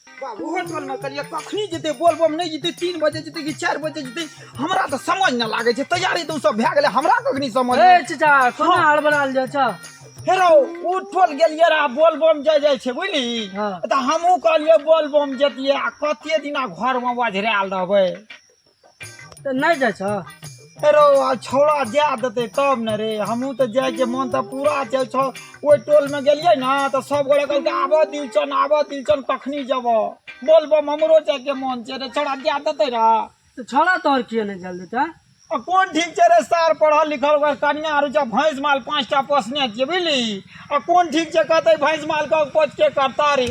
बाबू होटल में करिए कखनी जेते बोलबम नहीं जेते तीन बजे जेते कि चार बजे जेते हमरा तो समझ न लागे छै तैयारी तो सब भए गेले हमरा कखनी समझ ए नहि- चचा कोना हार बनाल जा छ हेरो उठल गेलिए रहा बोलबम जाय जाय छै बुझली हाँ। तऽ हमहूँ कहलिए बोलबम जतिए आ कते दिना घर में बजरायल रहबै तऽ नहि जाइ छऽ अरे आ छौड़ा जाए देतै तब ने रे हमहूँ तऽ जाइके मन तऽ पूरा छै छौ ओहि टोलमे गेलियै ने तऽ सब गोरे कहलकै आबऽ दिलचन आबऽ दिलचन कखनी जेबऽ बोल बम हमरो जाइके मन छै रे छौड़ा जाए देतै रे तऽ छौड़ा तोहर किए नहि जाए देतै आ कोन ठीक छै रे सार पढ़ल लिखल ओकर कनिया आर छै भैंस माल पाँचटा पोसने छियै बुझली आ कोन ठीक छै कहतै भैंस मालके कोचके करता रे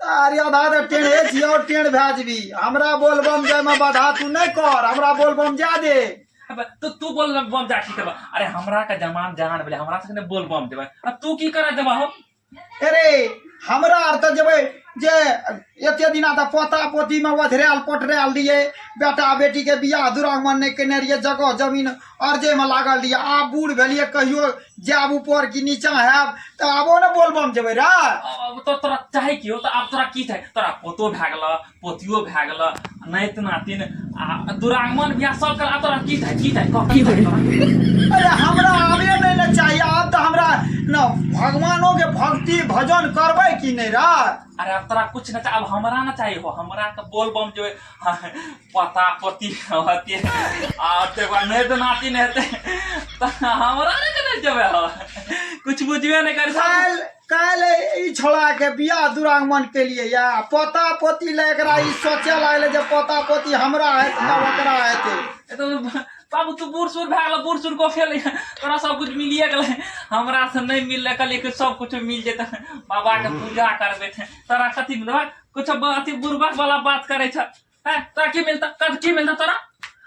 अरे आधा तऽ टेढ़े छी और टेढ़ भए जेबी हमरा बोलबम जायमे बाधा तू नहि कर हमरा बोलबम जा दे अब तू तू बोल बम जा ठीक बा अरे हमरा का जमान जहान भेलै हमरा से ने बोल बम देबै अब तू की करा देबा हो अरे हमरा आर तऽ जेबै जे एते दिना तऽ पोता पोतीमे ओझरायल पोटरायल रहियै बेटा बेटीके बियाह दुरागमन नहि केने रहियै जगह जमीन अर्जे में लागल रहिए आब बूढ़ भेलिए कहियो जायब ऊपर कि नीचा हैब तऽ आबो ने बोलबम जेबै रे अब तो तोरा चाहे की हो तो अब तोरा की चाहे तोरा पोतो भए गेल पोतियो भए गेल नाइत नातिन आ दुरागमन बियाह सब कर अब तोरा की चाहे की चाहे कह, की चाहे तोरा? अरे हमरा आबे नहीं ने चाहिए आब तऽ हमरा न भगवानो के भक्ति भजन करबै कि नहीं रे अरे अब तोरा कुछ ना चाहे अब हमरा ना चाहे हो हमरा तो बोल बम जो है, पता पति होती आ तकर बाद नहि तऽ नाती नहि हेतै तऽ हमरा नहि केना जेबै हम कुछ बुझबे नहि करै छै काल काल ई छोड़ा के बियाह दुरागमन के लिए या पोता पोती ले एकरा ई सोचे लागले जे पोता पोती हमरा है तब ओकरा हेते ए तऽ बाबू तू बूढ़ सूढ़ भए गेल बूढ़ सूढ़ को फेल तोरा सब कुछ मिलिए गेलै हमरा से नहि मिललै कहलियै कि सब कुछ मिल जेतै बाबा के पूजा करबै तोरा कथी मिलबै कुछ अथी बुर्बक वाला बात करै छ हैं तोरा की मिलता तोरा की मिलता तोरा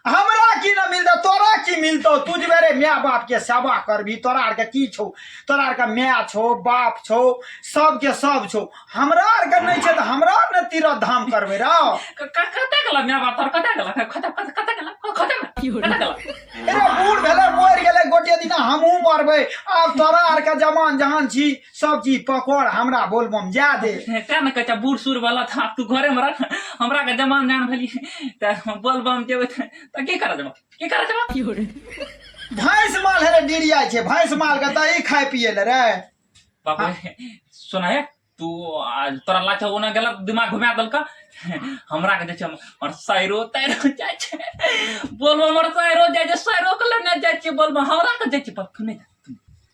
हमरा की न मिलता तोरा की मिलतो तू जे मेरे माय बाप के सेवा करबी तोरा आर के की छौ तोरा आर के माय छौ बाप छौ सब के सब छौ हमरा आर के नहीं छै त हमरा आर न तीरथ धाम करबे रौ क- क- कतऽ गेला माय बाप तोरा कतऽ गेला कतऽ कतऽ कतऽ गेला कतऽ गेला कतऽ गेला अरे बूढ़ भेले मर गेले गोटे दिना हमहू मरबे आब तोरा आर के जमान जहान छी सब चीज पकड़ हमरा बोलबम जा दे तें ने कहै छै बूढ़ सूढ़ वाला तऽ आब तू घरे मे रह हमरा के जवान जान भेली तऽ बोलबम जेबै तऽ तऽ की करऽ जेबऽ की करऽ जेबऽ भैंस माल है रे डिरिया छै भैंस माल के दही खाय पिए ले रे बाबू सुना हे तू आ, तोरा लाच ओना गेल दिमाग घुमा देलका हमरा के जे छै हमर साइरो ताइरो जाइ छै बोलबम हमर साइरो जाइ छै साइरो के लेने जाइ छै बोलबम हमरा के जाइ छै पर तू नहि जा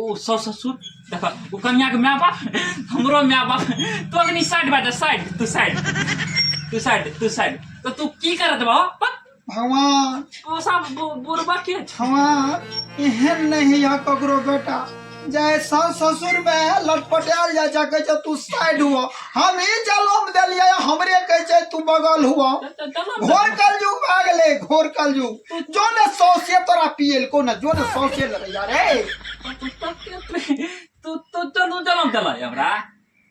ओ सास ससुर देख ओ कन्याके माय बाप हमरो माय बाप तो अग्नि साइड बाटे साइड तू साइड तू साइड तू साइड तो तू की करत बा पक भगवान ओ सब बु- बुरबा के छ भगवान एहन नहीं है ककरो बेटा जाय सास ससुर में लटपटायल जाय छै कहै छै तू साइड हुआ हम ई जलम देलियै हमरे कहै छै तू बगल हुआ त- त- चलो घोर कलयुग भए गेलै घोर कलयुग तू जो ना सौसे तोरा पियल को ना जो ना सौसे लगे यार ए तू तू चलू चलम चला हमरा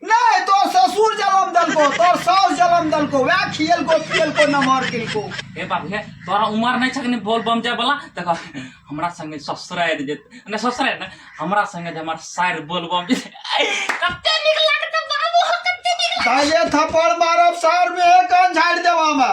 नहीं तो ससुर जलम दल को तो सौस जलम दल को वह खियल को पियल को न मर किल को ए बाबू हे तोरा उमर नहीं छकनी बोल बम जाए वाला देखो हमरा संगे ससुर आए जे ने ससुर आए ना हमरा संगे जे हमर साइर बोल बम जे कते निक लागत बाबू कते निक पहले थप्पड़ मारब सर में एक झाड़ देवा में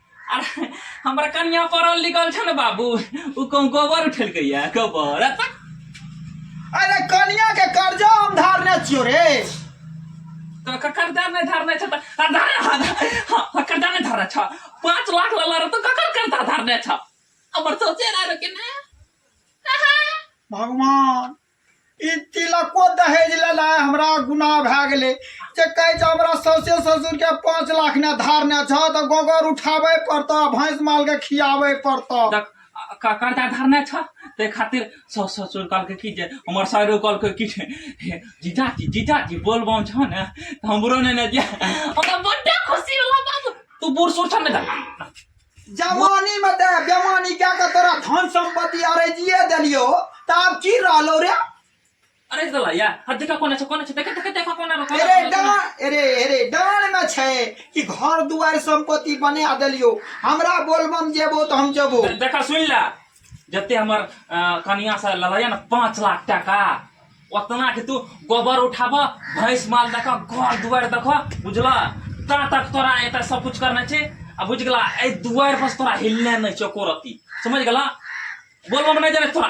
अरे हमरा कनिया पढ़ल लिखल छै ने बाबू ओ कहूँ गोबर उठेलकै या गोबर अरे तक अरे कनिया के कर्जा हम धारने छियो रे तो क- कर्जा नहीं धारने छ त आ, धारे हा, धा- हा, हा, कर्जा नहीं धारने छ पाँच लाख लला रह तो ककर कर्जा धारने छ हमर सोचे रह कि ने भगवान ई तिलको दहेज लेनाइ हमरा गुनाह भए गेलै जे कहै छै हमरा सौसे ससुरके पाँच लाख ने धार ने छह तऽ गोबर उठाबै पड़तऽ भैंस मालके खियाबै पड़तऽ तऽ क- कर्जा धरने छ ताहि खातिर सौ ससुर कहलकै कि जे हमर साइरो कहलकै कि जे, हे जीजाजी जीजाजी बोल बम छ ने तऽ हमरो ने ने जे हमरा बड्डे खुशी होला बाबू तू बूढ़ सूढ़ छ ने तऽ जवानी में ते बेमानी क्या के तोरा धन संपत्ति अरे जिए देलियो त आब की रहलो रे अरे दला या हद का कोना छ कोना छ देख देख देख कोना रो अरे डान अरे अरे डान में छै कि घर दुआर संपत्ति बना देलियो हमरा बोलबम जेबो त हम जेबो देखा सुन ला जते हमर कनिया से ललैया ना पाँच लाख टाका उतना के तू गोबर उठाब भैंस माल देख घर दुआर देख बुझल ता तक तोरा एत सब कुछ करना छे आ बुझ गला ए दुआर पर तोरा हिलने नहीं छो कोरती समझ गला बोलबो नहीं जाने तोरा